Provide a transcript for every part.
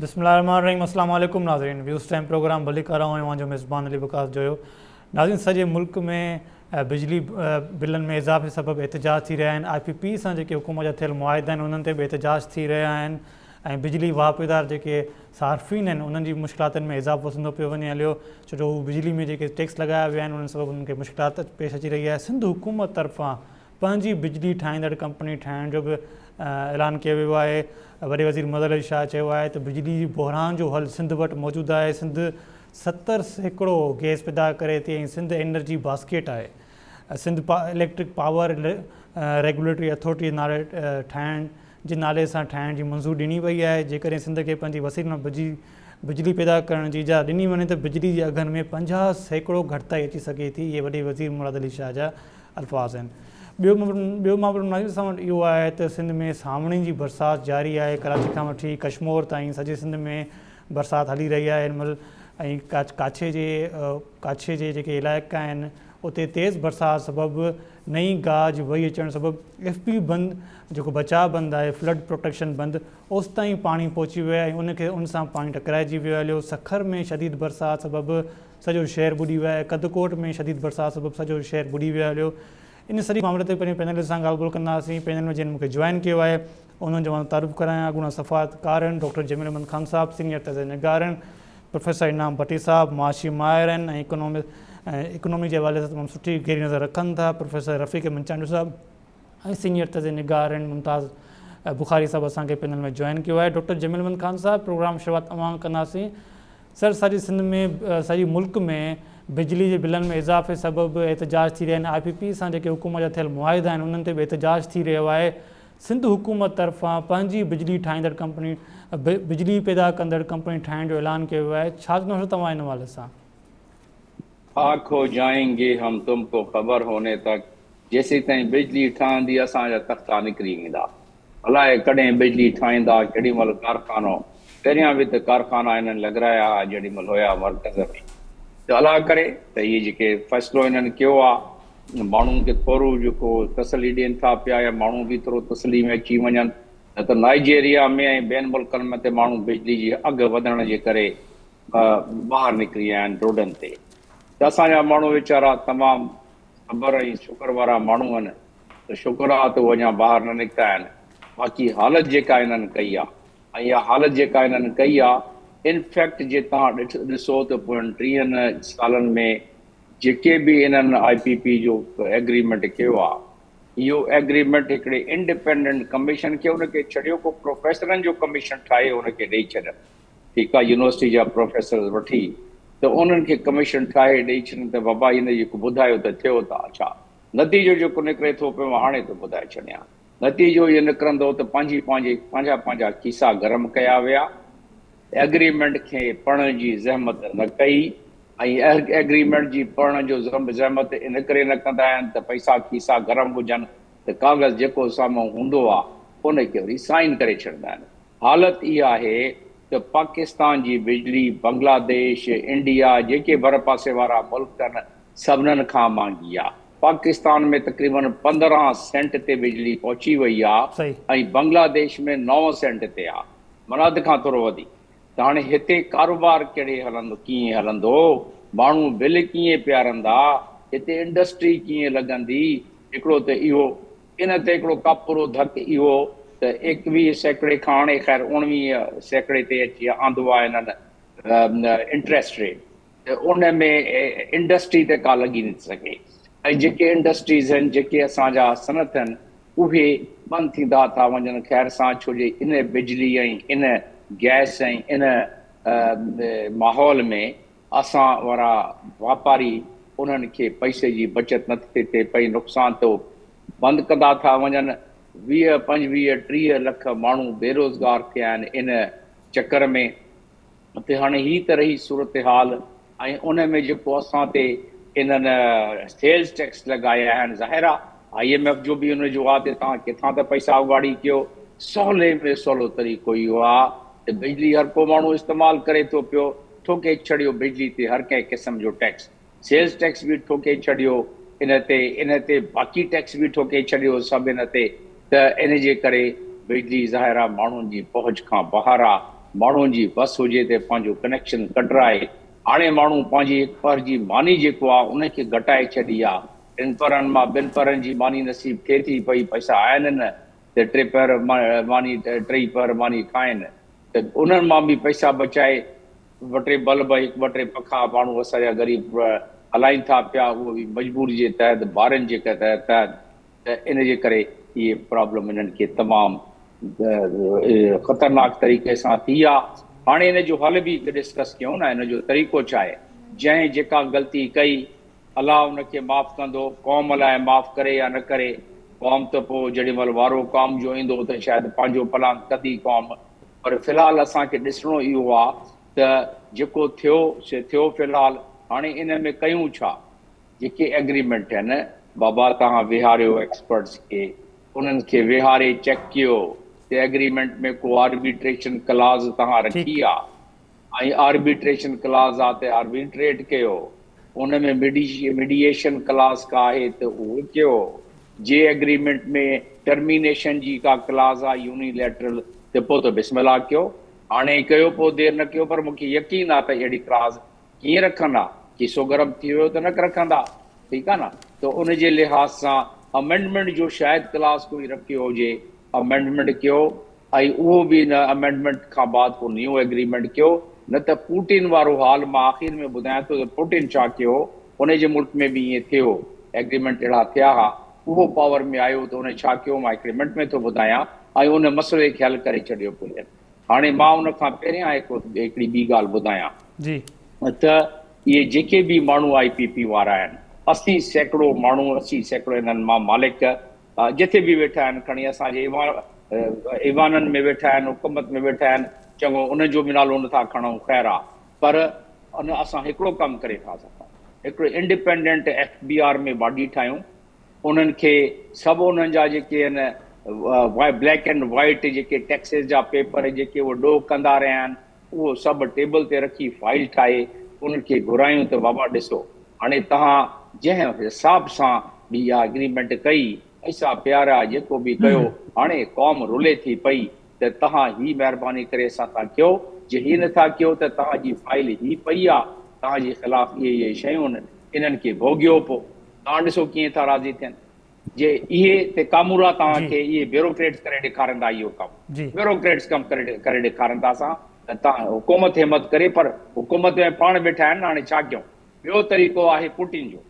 بسم الله الرحمٰن الرحيم اسلام عليڪم ناظرين ويوز ٽائيم پروگرام ڀليڪار آئون اوهان جو ميزبان علي وقاص جويو ناظرين سڄي ملڪ ۾ بجلي بلن ۾ اضافي سبب احتجاج ٿي رهيا آهن آء پي پي سان جيڪي حڪومت جا ٿيل معاهدا آهن انهن تي به احتجاج ٿي رهيا آهن ۽ بجلي واهپيدار جيڪي صارفين آهن انهن جي مشڪلاتن ۾ اضافو ٿيندو پيو وڃي هليو ڇو جو هو بجلي ۾ جيڪي ٽيڪس لڳايا ويا آهن انهن سبب انهن کي مشڪلات پيش اچي رهي آهي سنڌ حڪومت طرفان پنهنجي بجلي ٺاهيندڙ ڪمپني ٺاهڻ جو به اعلان ڪيو ويو آهي وڏي وزير مظهر علي شاهه چيو آهي ته بجلي جي بحران جو حل سنڌ وٽ موجود آهي سنڌ ستر سيڪڙو گئس پيدا ڪري ٿي ۽ سنڌ انرجي باسڪيٽ آهي Sindh electric power regulatory authority نالي ٺاهڻ جي نالي سان ٺاهڻ جي منظور ڏني وئي آهي جيڪڏهن سنڌ کي پنهنجي وسيلن مان بجلي پيدا ڪرڻ جي اجازت ڏني وڃي ته بجلي جي اگهن ۾ پنجاهه سيڪڙو گهٽتائي اچي سگهي ٿي اهي وڏي وزير مراد علي شاهه جا الفاظ آهن. ٻيو مابرم ناظر سان وٽ اهو آهي ته سنڌ ۾ سانوڻي جي برسات جاري آهي، ڪراچي کان وٺي ڪشمور تائين سڄي سنڌ ۾ برسات هلي رهي آهي هن مهل ۽ ڪاڇي جي ڪاڇي جي جيڪي علائقا آهن اتي تيز برسات سبب نئين گاج وهي اچڻ سبب ايف پي بند جيڪو بچاء بند آهي فلڊ پروٽيڪشن بند اوستائين پاڻي پهچي ويو آهي ۽ ان کي ان سان پاڻي ٽڪرائجي ويو هليو سکر ۾ شديد برسات سبب سڄو شهر ٻڏي ويو آهي، ڪڌڪوٽ ۾ شديد برسات سبب سڄو شهر ٻڏي ويو هليو، ان سڄي معاملي تي پنهنجي پينل سان ڳالهه ٻولهه ڪنداسين، پينل ۾ جن مون کي جوائن ڪيو آهي انهن جو مان تعارف ڪرايان، اڳوڻا سفارتڪار آهن ڊاڪٽر جميل احمد خان صاحب، سينئر تازه نگار آهن پروفيسر انعام ڀٽي صاحب، معاشي ماهر آهن ۽ اڪنامڪس ۽ اڪنامي جي حوالي سان تمام سٺي گهري نظر رکن ٿا پروفيسر رفيق احمد چانڊيو صاحب ۽ سينئر تازه نگار آهن ممتاز بخاري صاحب اسان کي پينل ۾ جوائن ڪيو آهي ڊاڪٽر جميل احمد خان صاحب پروگرام شروعات اوهان کان ڪنداسين. سر سڄي سنڌ ۾ سڄي ملڪ ۾ بجلي جي بلن ۾ اضافي سبب احتجاج ٿي رهيا آهن آء پي پي سان جيڪي حڪومت جا ٿيل معاهدا آهن انهن تي به احتجاج ٿي رهيو آهي سنڌ حڪومت طرفان پنهنجي بجلي ٺاهيندڙ ڪمپني بجلي پيدا ڪندڙ ڪمپني ٺاهڻ جو اعلان ڪيو ويو آهي ڇا چوندو سر توهان ان حوالي سان. خاڪ هو جائين گي هم تم ڪو خبر هوني تڪ جيسيتائين بجلي ٺهندي اسان جا تختا نڪري ويندا الاء ڪڏهن بجلي ٺاهيندا ڪهڙي مهل ڪارخانو پهريان به ته ڪارخانا هنن لڳرايا ها جهڙي مهل هيا مرڪز ۾ ته الاء ڪري ته هي جيڪي فيصلو هنن ڪيو آ ماڻهون کي ٿورو جيڪو تسلي ڏين ٿا پيا يا ماڻهون به ٿورو تسلي ۾ اچي وڃن نه ته نائيجيريا ۾ ۽ ٻين ملڪن ۾ ته ماڻهون بجلي جي اگهه وڌڻ جي ڪري ٻاهر نڪري آيا آهن روڊن تي ته اسان جا ماڻهو ويچارا تمام صبر ۽ شڪر وارا ماڻهو آهن ته شڪر آهي ته هو اڃا ٻاهر نه نڪتا آهن باقي حالت جيڪا انهن ڪئي آهي ۽ اها حالت جيڪا انهن ڪئي آهي ان فيڪٽ جي توهان ڏسو ته پوين ٽيهن سالن ۾ جيڪي به انهن آء پي پي جو ايگريمينٽ ڪيو آهي اهو ايگريمينٽ هڪڙي انڊپينڊنٽ ڪميشن کي ان کي ڇڏيو ڪو پروفيسرن جو ڪميشن ٺاهي ان کي ڏئي ڇڏن ڪي ڪا يونيورسٽي جا پروفيسرز وٺي ته انهن کي ڪميشن ٺاهي ڏئي ڇڏين ته بابا هن جيڪو ٻڌايو ته ٿيو ته اڇا نتيجو جيڪو نڪري ٿو پيو هاڻي ته ٻڌائي ڇڏيان نتيجو اهو نڪرندو ته پنهنجي پنهنجي پنهنجا پنهنجا کيسا گرم ڪيا ويا ايگريمينٽ کي پڙهڻ جي زحمت نه ڪئي ۽ ايگريمينٽ جي پڙهڻ جو زحمت ان ڪري نه ڪندا آهن ته پئسا کيسا گرم هجن ته ڪاغذ جيڪو سامهون هوندو آهي ان کي وري سائين ڪري ڇڏيندا آهن حالت اها آهي ته پاڪستان جي بجلي بنگلاديش، انڊيا جيڪي ڀرپاسي وارا ملڪ آهن سڀنن کان مهانگي آهي. پاڪستان ۾ تقريبن پندرهن سينٽ تي بجلي پهچي وئي آهي ۽ بنگلاديش ۾ نو سينٽ تي آهي معنيٰ اڌ کان ٿورو وڌيڪ ته هاڻي هتي ڪاروبار ڪهڙي هلندو ڪيئن هلندو ماڻهو بل ڪيئن پيارندا هتي انڊسٽري ڪيئن لڳندي هڪڙو ته اهو ان تي هڪڙو ڪاپورو ڌڪ اهو ته ايڪويهه سيڪڙي کان هاڻي خير اوڻويهه سيڪڙي تي اچي آندو آهي هنن انٽريسٽ ريٽ ته ان ۾ انڊسٽري ته ڪا لڳي نٿي سگهي ۽ جيڪي انڊسٽريز هن جيڪي اسان جا صنعت هن اهي بند ٿيندا ٿا وڃن خير سان ڇو جي ان بجلي ۽ ان گئس ۽ ان ماحول ۾ اسان وارا واپاري انهن کي پئسي جي بچت نه ٿي ٿئي پئي نقصان ٿو بند ڪندا ٿا وڃن ويهه پنجويهه ٽيهه لک ماڻهو بيروزگار ٿيا آهن ان چڪر ۾ تي هاڻي هي ته رهي صورتحال. ۽ ان ۾ جيڪو اسان تي انهن سيلز ٽيڪس لڳايا آهن ظاهر آ آئي ايم ايف جو به ان جو آ تي توهان ڪٿان ته پئسا اوڳاڙي ڪيو سولي ۾ سولو طريقو اهو آ ته بجلي هر ڪو ماڻهو استعمال ڪري ٿو پيو ٺوڪي ڇڏيو بجلي تي هر ڪنهن قسم جو ٽيڪس سيلز ٽيڪس به ٺوڪي ڇڏيو ان تي ان تي باقي ٽيڪس به ٺوڪي ڇڏيو سڀ ان تي ته ان جي ڪري بجلي ظاهر آ ماڻهن جي پهچ کان ٻاهر آ ماڻهن جي وس هجي ته پنهنجو ڪنيڪشن ڪٽرائي هاڻي ماڻهو پنهنجي هڪ پهر جي ماني جيڪو آ ان کي گهٽائي ڇڏي آ ٽن پهرن مان ٻن پهرن جي ماني نصيب ٿئي ٿي پئي پئسا آهن نه ته ٽي پهر ماني ٽئي پهر ماني کائين ته انهن مان به پئسا بچائي ٻه ٽي بلب ۽ ٻه ٽي پکا ماڻهو اسان جا غريب هلائين ٿا پيا اهو به مجبوري جي تحت ڀارين جي تحت ته ان جي ڪري اهي پرابلم انهن کي تمام خطرناڪ طريقي سان ٿي آ هاڻي ان جو حل به ڊسڪس ڪيون ۽ ان جو طريقو ڇا آهي جنهن جيڪا غلطي ڪئي الله ان کي معاف ڪندو، قوم الائي معاف ڪري يا نه ڪري، قوم ته پوء جيڏي مھل وارو قوم جو ايندو ته شايد پنھنجو پلان ڪندي قوم، پر في الحال اسان کي ڏسڻو اھو آ ته جيڪو ٿيو سي ٿيو في الحال ھاڻي ان ۾ ڪيون ڇا؟ جيڪي ايگريمينٽ آھن بابا توھان ويھاريو ايڪسپرٽس کي انھن کي ويھاري چيڪ ڪيو ته ايگريمينٽ ۾ ڪو آربيٽريشن ڪلاز توھان رکي آ؟ ۽ آربيٽريشن ڪلاز آ تي آربيٽريٽ ڪيو ان ۾ ميڊيئيشن ڪلاز ڪا آهي ته اهو ڪيو جي اگريمينٽ ۾ ٽرمينيشن جي ڪا ڪلاز آ يوني ليٽرل ته پو ته بسم الله ڪيو هاڻي ئي ڪيو پو دير نه ڪيو پر مون کي يقين آ ته اهڙي ڪلاز ڪيئن رکندا کيسو گرم ٿي ويو ته نڪ رکندا ٺيڪ آ نه ته ان جي لحاظ سان امينڊمينٽ جو شايد ڪلاز ڪوئي رکيو هجي امينڊمينٽ ڪيو ۽ اهو به ان امينڊمينٽ کان بعد ڪو نيون ايگريمينٽ ڪيو نه ته پوٽين وارو حال مان آخر ۾ ٻڌايان ٿو ته پوٽين ڇا ڪيو هو ان جي ملڪ ۾ به ائين ٿيو ايگريمينٽ اهڙا ٿيا ها اهو پاور ۾ آيو ته ان ڇا ڪيو مان هڪڙي منٽ ۾ ٿو ٻڌايان ۽ ان مسئلي کي حل ڪري ڇڏيو پوٽين هاڻي مان ان کان پهريان هڪڙي ٻي ڳالهه ٻڌايان ته اهي جيڪي به ماڻهو آء پي پي وارا آهن اسي سيڪڙو ماڻهو اسي سيڪڙو انهن مان مالڪ جتي به ويٺا آهن کڻي اسان جي ايوانن ۾ ويٺا آهن حڪومت ۾ ويٺا آهن چڱو انهن جو به نالو نه ٿا کڻون خير آ پر ان اسان هڪڙو ڪم ڪري ٿا سگهون هڪڙي independent F B R ۾ body ٺاهيون انهن کي سڀ انهن جا جيڪي آهن بليڪ اينڊ وائيٽ جيڪي ٽيڪسز جا پيپر جيڪي هو ڏوهه ڪندا رهيا آهن اهو سڀ ٽيبل تي رکي فائيل ٺاهي ان کي گهرايون ته بابا ڏسو هاڻي توهان جنهن حساب سان به اها اگريمينٽ ڪئي اسان پيارا جيڪو به ڪيو هاڻي قوم رلي ٿي پئي ته توهان هي مهرباني ڪري اسان سان ڪيو جي هي نه ٿا ڪيو ته توهان جي فائيل هي پئي آ توهان جي خلاف اهي اهي شيون انهن کي ڀوڳيو پو توهان ڏسو ڪيئن ٿا راضي ٿين. جي اهي تي ڪامورا توهان کي اهي بيوروڪريٽس ڪري ڏيکارن ٿا اهو ڪم بيوروڪريٽس ڪم ڪري ڏيکارن ٿا اسان ته توهان حڪومت همت ڪري پر حڪومت ۾ پاڻ ويٺا آهن نه هاڻي ڇا ڪيون ٻيو طريقو آهي پوٽين جو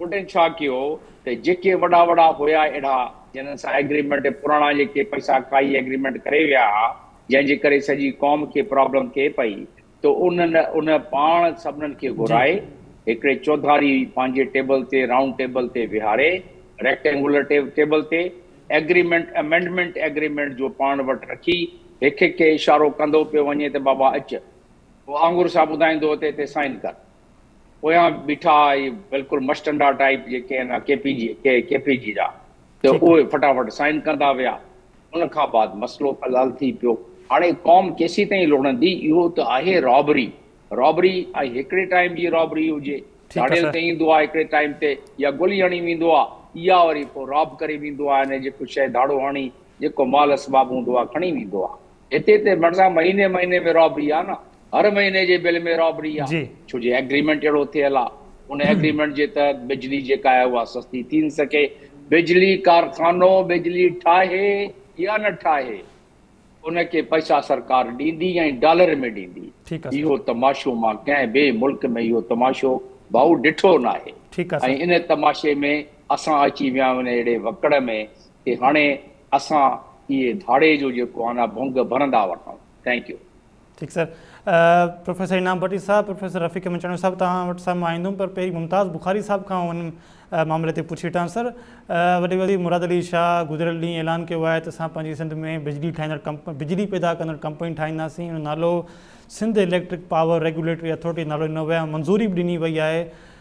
پوٽين ڇا ڪيو ته جيڪي وڏا وڏا هيا اهڙا جنن سان ايگريمينٽ پراڻا جيڪي پئسا کائي ايگريمينٽ ڪري ويا جنهن جي ڪري سڄي قوم کي پرابلم ٿئي پئي ته انهن ان پاڻ سڀنن کي گهرائي هڪڙي چوڌاري پنهنجي ٽيبل تي رائونڊ ٽيبل تي ويهاري ريڪٽينگولر ٽيبل تي ايگريمينٽ امينڊمينٽ ايگريمينٽ جو پاڻ وٽ رکي هڪ هڪ کي اشارو ڪندو پيو وڃي ته بابا اچ وانگر سا ٻڌائيندو ته هتي سائين ڪر پويان بيٺا بلڪل مشٽنڊا ٽائيپ جيڪي آهن K P G K P G جا. ته اهي فٽافٽ سائين ڪندا ويا. ان کان بعد مسئلو حلال ٿي پيو. هاڻي قوم ڪيسيتائين لڙندي؟ اهو ته آهي رابري. رابري ۽ هڪڙي ٽائيم جي رابري هجي. ڌاڙيل ته ايندو آهي هڪڙي ٽائيم تي يا گولي هڻي ويندو آهي يا وري پوء راب ڪري ويندو آهي ۽ جيڪو شيء ڌاڙو هڻي جيڪو مال اسباب هوندو آهي کڻي ويندو آهي. هتي ته مرزا مهيني مهيني ۾ رابري آ نه هر مهيني جي بل ۾ رابري آ ڇو جي ايگريمينٽ اهڙو ٿيل آ ان ايگريمينٽ جي تحت بجلي جيڪا آهي اها سستي ٿي نه سگهي بجلي ڪارخانو بجلي ٺاهي يا نه ٺاهي ان کي پئسا سرڪار ڏيندي ۽ ڊالر ۾ ڏيندي اهو تماشو مان ڪنهن به ملڪ ۾ اهو تماشو ڀائو ڏٺو ناهي ۽ ان تماشي ۾ اسان اچي ويا آهيون ان اهڙي وڪڙ ۾ تي هاڻي اسان اهي ڌاڙي جو جيڪو آهي نه ڀنگ ڀرندا وٺون ٿينڪ يو. ٺيڪ سر پروفيسر انعام بٽي صاحب پروفيسر رفيق مچاڻيو صاحب توهان وٽ سان مان ايندم پر پهرين ممتاز بخاري صاحب کان ان معاملي تي پڇي وٺان سر وڏي وزير مراد علي شاهه گذريل ڏينهن اعلان ڪيو آهي ته اسان پنهنجي سنڌ ۾ بجلي ٺاهيندڙ ڪمپ بجلي پيدا ڪندڙ ڪمپني ٺاهينداسين ان نالو Sindh electric power regulatory authority نالو ڏنو ويو منظوري به ڏني وئي آهي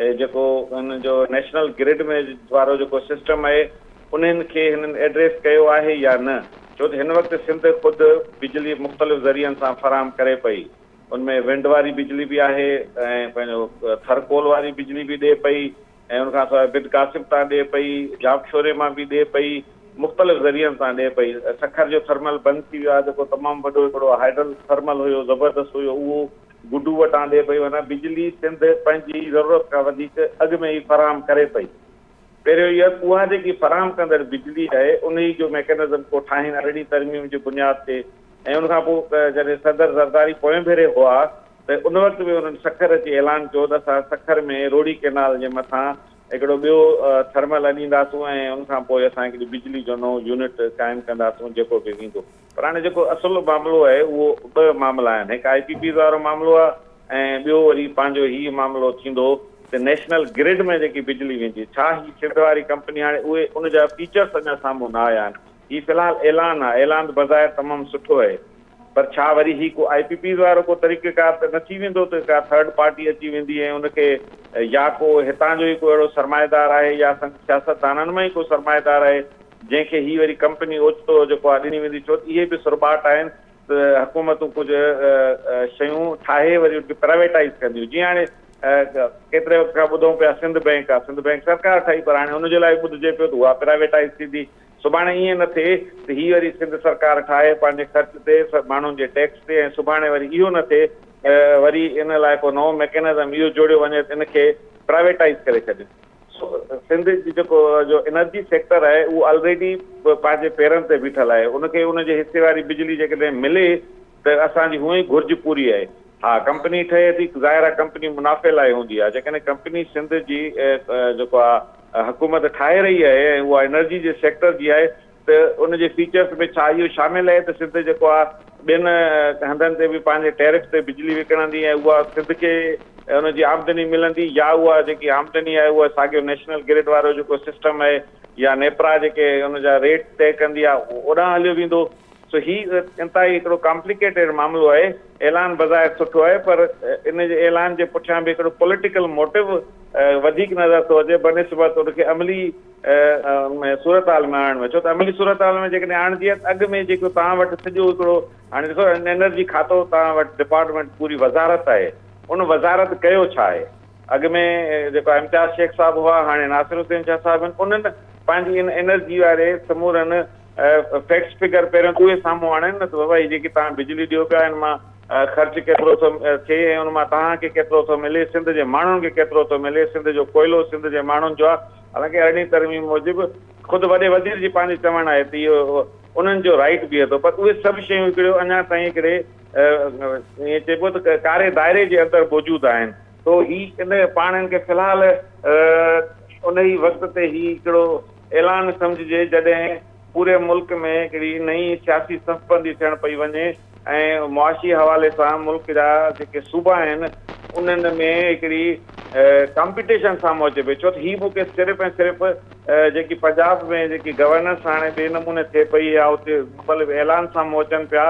هي جيڪو هن جو نيشنل گرڊ ۾ وارو جيڪو سسٽم آهي انهن کي هنن ايڊريس ڪيو آهي يا نه ڇو ته هن وقت سنڌ خود بجلي مختلف ذريعن سان فراهم ڪري پئي ان ۾ ونڊ واري بجلي به آهي ۽ پنهنجو ٿر ڪول واري بجلي به ڏي پئي ۽ ان کان سواء بڊ ڪاسب تان ڏي پئي جاب شوري مان به ڏي پئي مختلف ذريعن سان ڏي پئي سکر جو ٿرمل بند ٿي ويو آهي جيڪو تمام وڏو هڪڙو هائيڊل ٿرمل هيو زبردست هيو اهو گڊو وٽ آندي پئي وڃان، بجلي سنڌ پنهنجي ضرورت کان وڌيڪ اڳ ۾ ئي فراهم ڪري پئي. پهريون اهو ته اها جيڪي فراهم ڪندڙ بجلي آهي انهي جو ميڪنزم ڪو ٺاهين ارڙهين ترميم جي بنياد تي ۽ ان کان پوء جڏهن صدر زرداري پوئين ڀيري هئا ته ان وقت به انهن سکر اچي اعلان ڪيو ته اسان سکر ۾ روهڙي ڪئنال جي مٿان هڪڙو ٻيو ٿرمل اڏينداسون ۽ ان کان پوء اسان هڪڙي بجلي جو نئون يونٽ قائم ڪنداسون جيڪو به ويندو. پر هاڻي جيڪو اصل معاملو آهي اهو ٻه معاملا آهن هڪ آء پي پيز وارو معاملو آهي ۽ ٻيو وري پنهنجو هي معاملو ٿيندو ته نيشنل گرڊ ۾ جيڪي بجلي ويندي ڇا هي سنڌ واري ڪمپني هاڻي اهي ان جا فيچرس اڃا سامهون نه آيا آهن هي في الحال اعلان آهي اعلان بظاهر تمام سٺو اهي پر ڇا وري هي ڪو آء پي پيز وارو ڪو طريقه ڪار ته نه ٿي ويندو ته ڪا ٿرڊ پارٽي اچي ويندي ۽ ان کي يا ڪو هتان جو ئي ڪو اهڙو سرمائيدار آهي يا سنڌ سياستدانن مان ئي ڪو سرمائيدار آهي جنهن کي هي وري ڪمپني اوچتو جيڪو آهي ڏني ويندي ڇو ته اهي به سرٻاٽ آهن ته حڪومتون ڪجهه شيون ٺاهي وري ان کي پرائيويٽائيز ڪنديون جيئن هاڻي ڪيتري وقت کان ٻڌون پيا سنڌ بئنڪ آهي سنڌ بئنڪ سرڪار ٺاهي پر هاڻي ان جي لاء ٻڌجي پيو ته اها پرائيويٽائيز ٿيندي سڀاڻي ائين نه ٿئي ته هي وري سنڌ سرڪار ٺاهي پنهنجي خرچ تي ماڻهن جي ٽيڪس تي ۽ سڀاڻي وري اهو نه ٿئي وري ان لاء ڪو نئون ميڪينزم اهو جوڙيو وڃي ته ان کي پرائيويٽائيز ڪري ڇڏيون سنڌ جي جيڪو جو انرجي سيڪٽر آهي اهو آلريڊي پنهنجي پيرن تي بيٺل آهي ان کي ان جي حصي واري بجلي جيڪڏهن ملي ته اسان جي هونئن ئي گهرج پوري آهي ها ڪمپني ٺهي ٿي ظاهر آهي ڪمپني منافعي لاء هوندي آهي جيڪڏهن ڪمپني سنڌ جي جيڪو آهي حڪومت ٺاهي رهي آهي ۽ اها انرجي جي سيڪٽر جي آهي ته ان جي فيچرز ۾ ڇا اهو شامل اهي ته سنڌ جيڪو آ ٻين هنڌن تي به پنهنجي ٽيرف تي بجلي وڪڻندي ۽ اها سنڌ کي ان جي آمدني ملندي يا اها جيڪي آمدني آهي اها ساڳيو نيشنل گرڊ وارو جيڪو سسٽم آهي يا نيپرا جيڪي ان جا ريٽ طئي ڪندي آ اوڏانهن هليو ويندو سو هي انتهائي هڪڙو ڪامپليڪيٽيڊ معاملو آهي اعلان بظاهر سٺو آهي پر ان جي اعلان جي پٺيان به هڪڙو پوليٽيڪل موٽو وڌيڪ نظر ٿو اچي بنسبت ان کي عملي ۾ صورتحال ۾ آڻڻ ۾ ڇو ته عملي صورتحال ۾ جيڪڏهن آڻجي ها ته اڳ ۾ جيڪو توهان وٽ سڄو هڪڙو هاڻي ڏسو انرجي کاتو توهان وٽ ڊپارٽمينٽ پوري وزارت آهي ان وزارت ڪيو ڇا آهي اڳ ۾ جيڪو امتياز شيخ صاحب هئا هاڻي ناصر حسين شاهه صاحب آهن انهن پنهنجي ان انرجي واري سمورن فيڪٽس فگر پهريون اهي سامهون آڻين نه ته بابا هي جيڪي توهان بجلي ڏيو پيا ان مان خرچ ڪيترو ٿو ٿئي ۽ ان مان توهان کي ڪيترو ٿو ملي سنڌ جي ماڻهن کي ڪيترو ٿو ملي سنڌ جو ڪوئلو سنڌ جي ماڻهن جو آهي حالانڪ ارڙهين ترميم موجب خود وڏي وزير جي پنهنجو چوڻ آهي ته اهو انهن جو رائيٽ بيهي ٿو پر اهي سڀ شيون هڪڙيو اڃا تائين هڪڙي ائين چئبو ته ڪاري دائري جي اندر موجود آهن. سو هي ان پاڻ ان کي في الحال انهي وقت تي هي هڪڙو اعلان سمجهجي جڏهن پوري ملڪ ۾ هڪڙي نئين سياسي صف بندي ٿيڻ پئي وڃي. ۽ معاشي حوالي سان ملڪ جا جيڪي صوبا آهن انهن ۾ هڪڙي ڪامپيٽيشن سامهون اچي پئي ڇو ته هي ملڪ صرف ۽ صرف جيڪي پنجاب ۾ جيڪي گورننس هاڻي ٻئي نموني ٿئي پئي يا اتي مختلف اعلان سامهون اچن پيا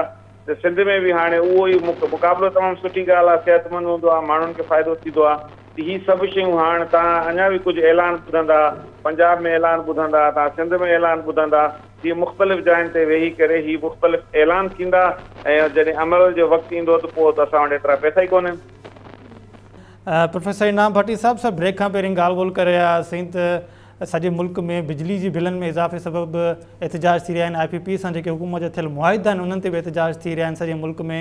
ته سنڌ ۾ به هاڻي اهو ئي مقابلو تمام سٺي ڳالهه آهي صحتمند هوندو آهي ماڻهن کي فائدو ٿيندو آهي ته هي سڀ شيون هاڻ تان اڃا به ڪجهه اعلان ٻڌندا پنجاب ۾ اعلان ٻڌندا تان سنڌ ۾ اعلان ٻڌندا هي مختلف جاين تي ويهي ڪري هي مختلف اعلان ٿيندا ۽ جڏهن عمل جو وقت ايندو ته پوء ته اسان وٽ ايترا پئسا ئي ڪونهن. پروفيسر انعام ڀٽي صاحب سر بريڪ کان پهرين ڳالهه ٻولهه ڪري رهيا هئاسين ته سڄي ملڪ ۾ بجلي جي بلن ۾ اضافي سبب به احتجاج ٿي رهيا آهن آء پي پي سان جيڪي حڪومت جا ٿيل معاهدا آهن انهن تي به احتجاج ٿي رهيا آهن سڄي ملڪ ۾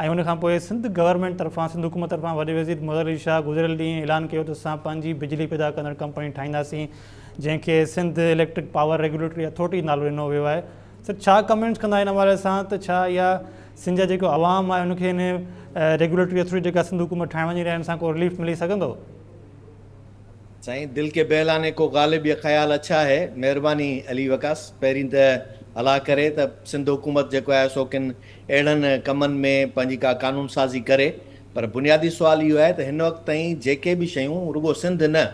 ۽ ان کان پوء سنڌ گورنمينٽ طرفان سنڌ حڪومت طرفان وڏي وزير مظهر علي شاهه گذريل ڏينهن اعلان ڪيو ته اسان پنهنجي بجلي پيدا ڪندڙ ڪمپني ٺاهينداسين جنهن کي Sindh electric power regulatory authority نالو ڏنو ويو آهي سر ڇا ڪمينٽس ڪندا ان حوالي سان ته ڇا اها سنڌ جا جيڪو عوام آهي ان کي ان ريگوليٽري اٿارٽي جيڪا سنڌ حڪومت ٺاهڻ وڃي رهي آهي ان سان ڪو رليف ملي سگهندو سائين دل ڪي بهلانے ڪو غالب يا خيال اڇا هي مهرباني علي وقاص پهرين ته الله ڪري ته سنڌ حڪومت جيڪو آهي سو ڪن اهڙن ڪمن ۾ پنهنجي ڪا قانون سازي ڪري پر بنيادي سوال اهو آهي ته هن وقت تائين جيڪي به شيون رڳو سنڌ نه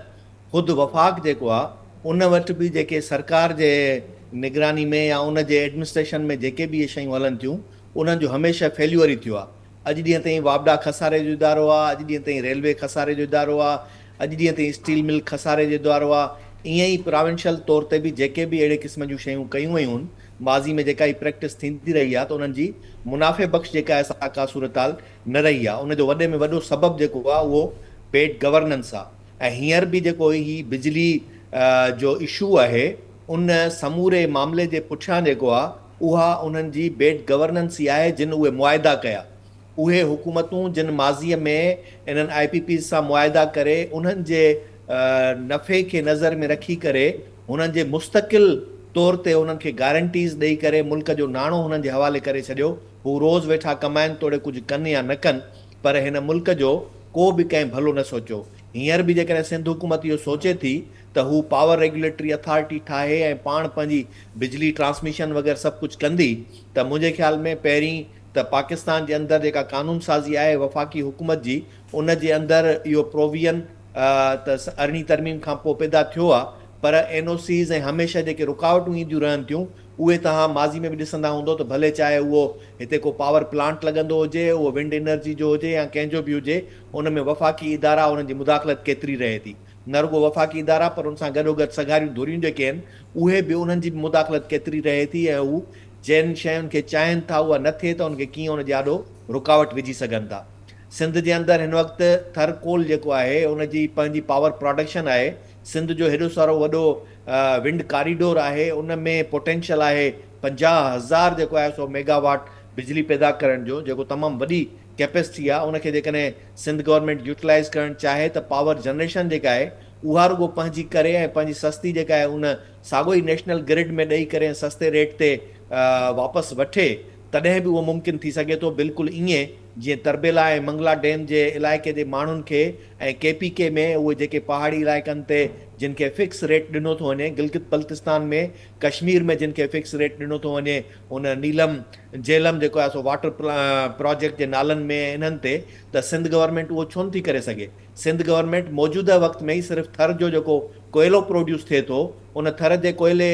خود وفاق جيڪو آ ان وٽ به جيڪي سرڪار جي نگراني ۾ يا ان جي ايڊمنسٽريشن ۾ جيڪي به اهي شيون هلن ٿيون انهن جو هميشه فيليور ئي ٿيو آ. اڄ ڏينهن تائين واپڊا خساري جو ادارو آ، اڄ ڏينهن تائين ريلوي خساري جو ادارو آ، اڄ ڏينهن تائين اسٽيل مل خساري جو ادارو آ. ائين ئي پراونشل طور تي به جيڪي به اهڙي قسم جون شيون ڪيون ويون هن ماضي ۾ جيڪا هي پريڪٽس ٿيندي رهي آ ته انهن جي منافعي بخش جيڪا آ سا ڪا صورتحال نه رهي آ. ان جو وڏي ۾ وڏو سبب جيڪو آ اهو بيڊ گورننس آ. ۽ هينئر به جيڪو هي بجلي جو اشو آهي ان سموري معاملي جي پٺيان جيڪو آ اها انهن جي بيڊ گورننس ئي آهي جن اهي معاهدا ڪيا اهي حڪومتون جن ماضي ۾ انهن آء پي پيز سان معاهدا ڪري انهن جي نفعي کي نظر ۾ رکي ڪري هنن جي مستقل طور تي هنن کي گارنٽيز ڏئي ڪري ملڪ جو ناڻو هنن جي حوالي ڪري ڇڏيو هو روز ويٺا ڪمائن توڙي ڪجهه ڪن يا نه ڪن پر هن ملڪ جو ڪو به ڪنهن ڀلو نه سوچيو. هينئر به جيڪڏهن سنڌ حڪومت اهو سوچي ٿي ته هو پاور ريگيوليٽري اٿارٽي ٺاهي ۽ پاڻ پنهنجي بجلي ٽرانسميشن وغيره سڀ ڪجهه ڪندي ته منهنجي خيال ۾ پهرين ته پاڪستان جي اندر جيڪا قانون سازي آهي وفاقي حڪومت جي ان جي اندر اهو پروويئن ته ارڙهين ترميم کان پوء پيدا ٿيو آهي پر اين او سيز ۽ هميشه جيڪي رڪاوٽون اينديون رهن ٿيون اهي توهان ماضي ۾ به ڏسندا هوندؤ ته ڀلي چاهي اهو هتي ڪو پاور پلانٽ لڳندو هجي، اهو ونڊ انرجي جو هجي يا ڪنهن جو به هجي، ان ۾ وفاقي ادارا انهن جي مداخلت ڪيتري رهي ٿي. نه رڳو وفاقي ادارا پر ان سان گڏوگڏ سگهاريون ڌريون جيڪي آهن اهي به انهن جي به مداخلت ڪيتري رهي ٿي ۽ هو جن شين کي چاهين ٿا اها نه ٿئي ته ان کي ڪيئن ان جي آڏو رڪاوٽ وجهي سگهن ٿا. سنڌ جي اندر هن وقت ٿر ڪول جيڪو آهي ان جي پنهنجي پاور پراڊڪشن آهي سنڌ جو هيڏو سارو وڏو ونڊ ڪاريڊور آهي ان ۾ پوٽينشل آهي پنجاهه هزار جيڪو آهي سو ميگا واٽ بجلي پيدا ڪرڻ جو جيڪو تمام وڏي ڪيپيسٽي آهي ان کي جيڪڏهن سنڌ گورنمينٽ يوٽيلائيز ڪرڻ چاهي ته پاور جنريشن جيڪا آهي اها رڳو پنهنجي ڪري ۽ پنهنجي سستي جيڪا آهي ان ساڳو ئي نيشنل گرڊ ۾ ڏئي ڪري ۽ سستي ريٽ تي واپس وٺي تڏهن به اهو ممڪن ٿي سگهي ٿو بلڪل ائين جيئن تربيلا ۽ منگلا ڊيم جي علائقي جي ماڻهن کي ۽ ڪي پي ڪي ۾ اهي جيڪي پهاڙي علائقن تي جن کي فڪس ريٽ ڏنو ٿو وڃي گلگت بلتستان ۾ ڪشمير ۾ جن کي فڪس ريٽ ڏنو ٿو وڃي ان نيلم جهلم جيڪو آهي سو واٽر پراجيڪٽ جي نالن ۾ انهن تي ته سنڌ گورنمينٽ اهو ڇو نٿي ڪري سگهي سنڌ گورنمينٽ موجوده وقت ۾ ئي صرف ٿر جو جيڪو ڪوئلو پروڊيوس ٿئي ٿو ان ٿر جي ڪوئلي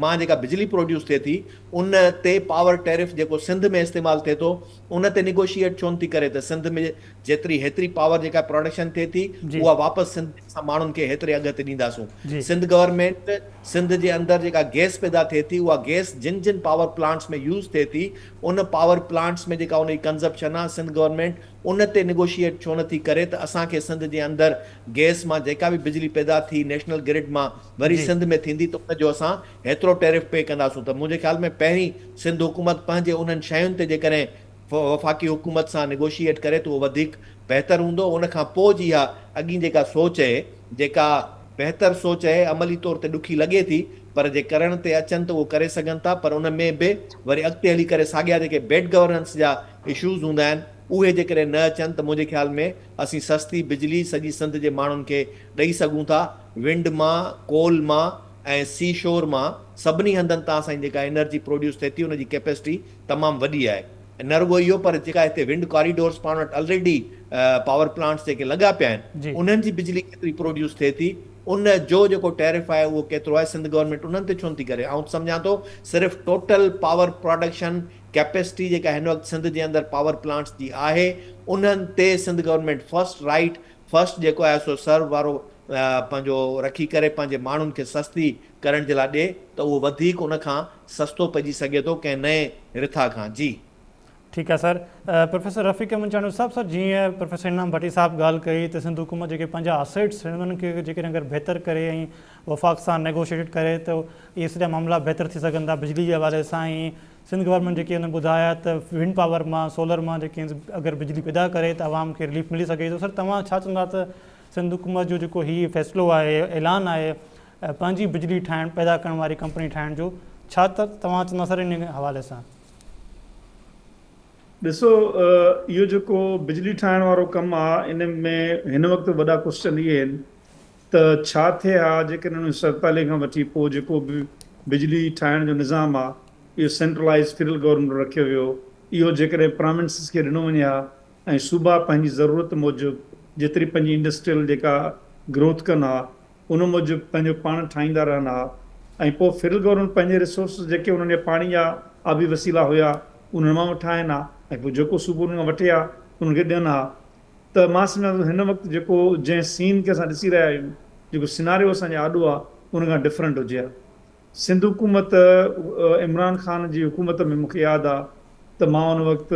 مان جيڪا بجلي پروڊيوس ٿئي ٿي ان تي پاور ٽيرف جيڪو سنڌ ۾ استعمال ٿئي ٿو ان تي نيگوشيئيٽ ڇو نه ٿي ڪري ته سنڌ ۾ جيتري هيتري پاور جيڪا پراڊڪشن ٿئي ٿي اها واپس سنڌ ۾ اسان ماڻهن کي هيتري اگهه تي ڏينداسون. سنڌ گورنمينٽ سنڌ جي اندر جيڪا گيس پيدا ٿئي ٿي اها گيس جن جن پاور پلانٽس ۾ يوز ٿئي ٿي ان پاور پلانٽس ۾ جيڪا ان جي ڪنزپشن آهي سنڌ گورنمينٽ ان تي نيگوشيئيٽ ڇو نه ٿي ڪري ته اسان کي سنڌ جي اندر گيس مان جيڪا به بجلي پيدا ٿي نيشنل گرڊ مان وري سنڌ ۾ ٿيندي ته ان جو اسان هيترو ٽيرف پي ڪنداسون ته منهنجي خيال ۾ پهرين سنڌ حڪومت پنهنجي انهن شين تي جيڪڏهن وفاقي حڪومت سان نيگوشيئيٽ ڪري ته اهو وڌيڪ بهتر هوندو ان کان پوء جي اها اڳين جيڪا سوچ اهي جيڪا بهتر سوچ اهي عملي طور تي ڏکي لڳي ٿي پر جي ڪرڻ تي اچن ته اهو ڪري سگهن ٿا پر ان ۾ به وري اڳتي هلي ڪري ساڳيا جيڪي بيڊ گورننس جا اشوز هوندا آهن اهي جيڪڏهن نه اچن ته منهنجي خيال ۾ اسين سستي بجلي سڄي سنڌ جي ماڻهن کي ڏئي سگهون ٿا ونڊ مان ڪول مان ۽ سي شور مان سڀني هنڌن تان سائين جيڪا انرجي پروڊيوس ٿئي ٿي ان جي ڪيپيسٽي تمام وڏي آهي ۽ نه رڳو اهو پر جيڪا هتي ونڊ ڪاريڊورس پاڻ وٽ الريڊي پاور پلانٽس جيڪي لڳا پيا آهن انهن جي بجلي ڪيتري پروڊيوس ٿئي ٿي ان جو جيڪو ٽيرف آهي اهو ڪيترو آهي سنڌ گورنمينٽ انهن تي ڇو نٿي ڪري آئون ته سمجهان ٿو صرف ٽوٽل پاور پراڊڪشن ڪيپيسٽي جيڪا هن وقت سنڌ جي اندر پاور پلانٽس جي آهي انهن تي Sindh government first right first جيڪو آهي سو سرو وارو پنهنجو رکي ڪري پنهنجي ماڻهن کي سستي ڪرڻ جي لاء ڏي ته اهو وڌيڪ ان کان سستو پئجي سگهي ٿو ڪنهن نئين رٿا کان جي. ٺيڪ آ سر. پروفيسر رفيق منچاڻو صاحب سر جيئن پروفيسر انعام ڀٽي صاحب ڳالھ ڪئي ته سنڌ حڪومت جيڪي پنهنجا اسيٽس آهن انهن کي جيڪڏهن اگر بهتر ڪري ۽ وفاق سان نيگوشيٽيٽ ڪري ته اهي سڄا معاملا بهتر ٿي سگهندا بجلي جي حوالي سان ۽ سنڌ گورنمينٽ جيڪي هن ٻڌايا ته ونڊ پاور مان سولر مان جيڪي اگر بجلي پيدا ڪري ته عوام کي رليف ملي سگهي ٿو سر توهان ڇا چوندا ته سنڌ حڪومت جو جيڪو هي فيصلو آهي اعلان آهي پنهنجي بجلي ٺاهڻ پيدا ڪرڻ واري ڪمپني ٺاهڻ جو ڇا ته توهان چوندا سر ان حوالي سان. ڏسو اهو جيڪو بجلي ٺاهڻ وارو ڪم آ ان ۾ هن وقت وڏا ڪوسچن اهي آهن ته ڇا ٿئي ها جيڪڏهن انهن سال پهلي کان وٺي پوء جيڪو به بجلي ٺاهڻ جو نظام آهي اهو سينٽرلائيز فيڊرل گورنمينٽ وٽ رکيو ويو اهو جيڪڏهن پراونسز کي ڏنو وڃي ها ۽ صوبا پنهنجي ضرورت موجب جيتري پنهنجي انڊسٽريل جيڪا گروٿ ڪن ها ان موجب پنهنجو پاڻ ٺاهيندا رهن ها ۽ پوء فيڊرل گورنمينٽ پنهنجي ريسورسز جيڪي انهن جا پاڻي جا آبي وسيلا هيا انهن مان ٺاهين ها ۽ پوء جيڪو صوبو انهن کان وٺي ها انهن کي ڏين ها ته مان سمجهان ٿو هن وقت جيڪو جنهن سين کي اسان ڏسي رهيا آهيون جيڪو سيناريو اسان جي آڏو آهي ان کان ڊفرنٽ هجي ها سنڌ حڪومت عمران خان جي حڪومت ۾ مون کي ياد آهي ته مان ان وقت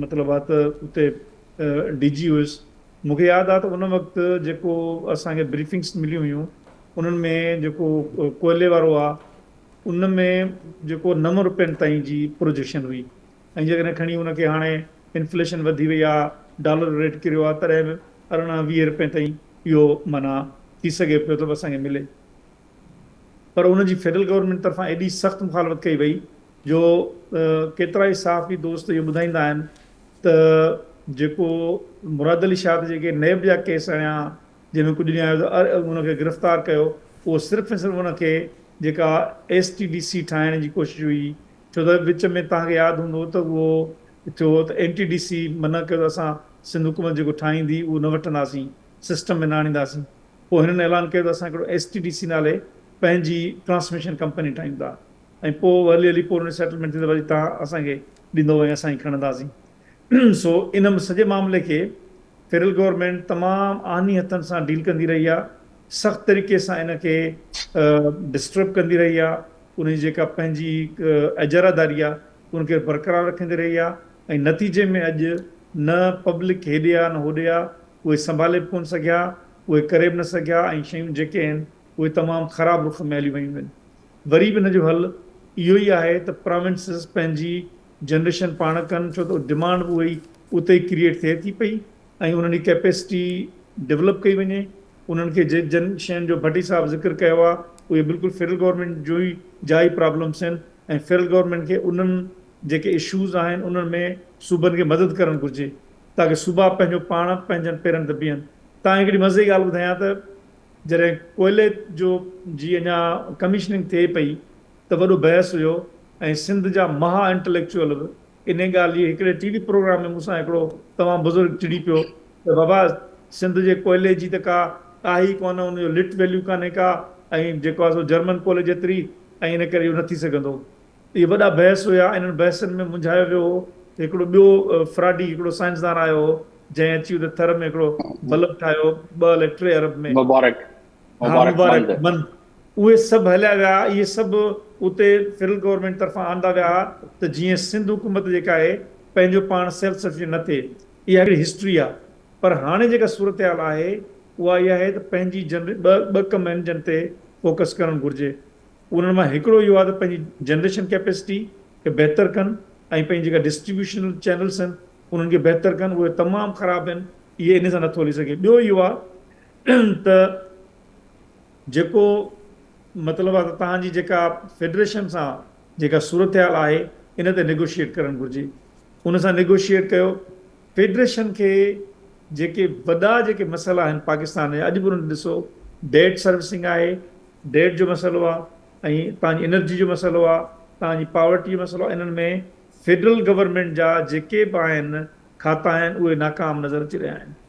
مطلب آهي ته اتي ڊي جي هيس مون کي ياد آهي ته ان وقت جيڪو اسان کي بريفنگس مليون هيون انهن ۾ جيڪو ڪوئلي وارو آهي ان ۾ جيڪو نو رپين تائين جي پروجيڪشن هئي ۽ جيڪڏهن کڻي ان کي هاڻي انفليشن وڌي وئي آ، ڊالر ريٽ ڪريو آ تڏهن به ارڙهن ويهه رپين تائين اهو معنيٰ ٿي سگهي پيو ته به اسان کي ملي. پر ان جي فيڊرل گورنمينٽ طرفان ايڏي سخت مخالفت ڪئي وئي جو ڪيترائي صحافي دوست اهو ٻڌائيندا آهن ته جيڪو مراد علي شاهه تي جيڪي نيب جا ڪيس اڻيا جنهن ۾ ڪجهه ڏينهن اڳ ان کي گرفتار ڪيو اهو صرف ۽ صرف ان کي جيڪا ايس ٽي ڊي سي ٺاهڻ جي ڪوشش هئي ڇو ته وچ ۾ توهان کي ياد هوندو ته اهو ٿيو هو ته اين ٽي ڊي سي منع ڪيو ته اسان سنڌ حڪومت جيڪو ٺاهيندي اهو نه وٺنداسين، سسٽم ۾ نه آڻينداسين. پوء هنن اعلان ڪيو ته اسان هڪڙو ايس ٽي ڊي سي نالي پنهنجي ٽرانسميشن ڪمپني ٺاهيون ٿا ۽ پوء هلي هلي پوء ان جو سيٽلمينٽ ٿيندو وري توهان اسان کي ڏيندو ۽ اسان ئي کڻنداسين. سو ان سڄي معاملي کي فيڊرل گورنمينٽ تمام آهني هٿن سان ڊيل ڪندي رهي آهي، سخت طريقي سان ان کي ڊسٽرب ڪندي رهي آهي، ان جي جيڪا پنهنجي اجاره داري آهي ان کي برقرار رکندي رهي آهي ۽ نتيجي ۾ اڄ نه پبلڪ هيڏي آهي نه هوڏي آهي، اهي سنڀالي به ڪونه سگهيا، اهي ڪري به نه سگهيا ۽ شيون جيڪي آهن اهي تمام خراب رخ ۾ هليون ويون آهن. وري به ان جو حل اهو ئي آهي ته پراونسز پنهنجي جنريشن پاڻ ڪن ڇو ته ڊمانڊ به اها ئي اتي ئي ڪريئيٽ ٿئي ٿي پئي ۽ انهن جي ڪيپيسٽي ڊولپ ڪئي وڃي انهن کي جي جن شين جو ڀٽي صاحب ذڪر ڪيو آهي اهي بلڪل فيڊرل گورنمينٽ جون ئي جا ئي پرابلمس آهن ۽ فيڊرل گورنمينٽ کي انهن جيڪي اشوز آهن انهن ۾ صوبن کي مدد ڪرڻ گهرجي تاڪه صوبا پنهنجو پاڻ پنهنجن پيرن تي بيهن تان هڪڙي مزي جي ڳالهه ٻڌايان ته جڏهن ڪوئلي جو جي اڃا ڪميشننگ ٿئي پئي ته وڏو بحث هيو ۽ سنڌ جا مها انٽليڪچوئل به انهي ڳالهه جي هڪڙي ٽي وي پروگرام ۾ مون سان هڪڙو تمام بزرگ چڙي پيو ته بابا سنڌ جي ڪوئلي جي ته ڪا ڪاهي ئي ڪونه ان جو لٽ ويليو ڪانهي ڪا ۽ جيڪو آهي سو جرمن ڪوئلي جيتري ۽ ان ڪري اهو نه ٿي سگهندو اهي وڏا بحث هيا ۽ انهن بحثن ۾ منجهايو ويو هو ته هڪڙو ٻيو فراڊي هڪڙو سائنسدان آيو هو جنهن اچي اتي ٿر ۾ هڪڙو بلب ٺاهيو ٻه الائي ٽي ارب ۾ مبارڪ مبارڪ مند. اهي سڀ هليا ويا، اهي سڀ اتي فيڊرل گورنمينٽ طرفان آندا ويا ها ته جيئن سنڌ حڪومت جيڪا آهي پنهنجو پاڻ سيلف سفيشنٽ نه ٿئي، اها هڪڙي هسٽري آهي پر هاڻي جيڪا صورتحال آهي اها اها آهي ته پنهنجي جن ٻه ٻه ڪم آهن جن تي فوڪس ڪرڻ گهرجي انهن مان هڪڙو اهو آهي ته پنهنجي جنريشن ڪيپيسٽي کي بهتر ڪن ۽ پنهنجي جيڪا ڊسٽريبيوشن چينلس آهن انهن کي بهتر ڪن اهي تمام خراب آهن اهي انهي سان نٿو هلي سگهي ٻيو اهو آهي ته جيڪو مطلب آهي ته توهان جي جيڪا فيڊريشن سان جيڪا صورتحال آهي ان تي نيگوشيئيٽ ڪرڻ گهرجي ان سان نيگوشيئيٽ ڪيو فيڊريشن کي جيڪي وڏا جيڪي مسئلا آهن پاڪستان جا اڄ به انهن کي ڏسو ڊيٽ سروسنگ آهي ڊيٽ جو مسئلو آهي ۽ توهان جي انرجي جو مسئلو آهي توهان جي پاورٽي جو مسئلو آهي انهن ۾ فيڊرل گورنمينٽ جا جيڪي به آهن کاتا آهن اهي ناڪام نظر اچي رهيا آهن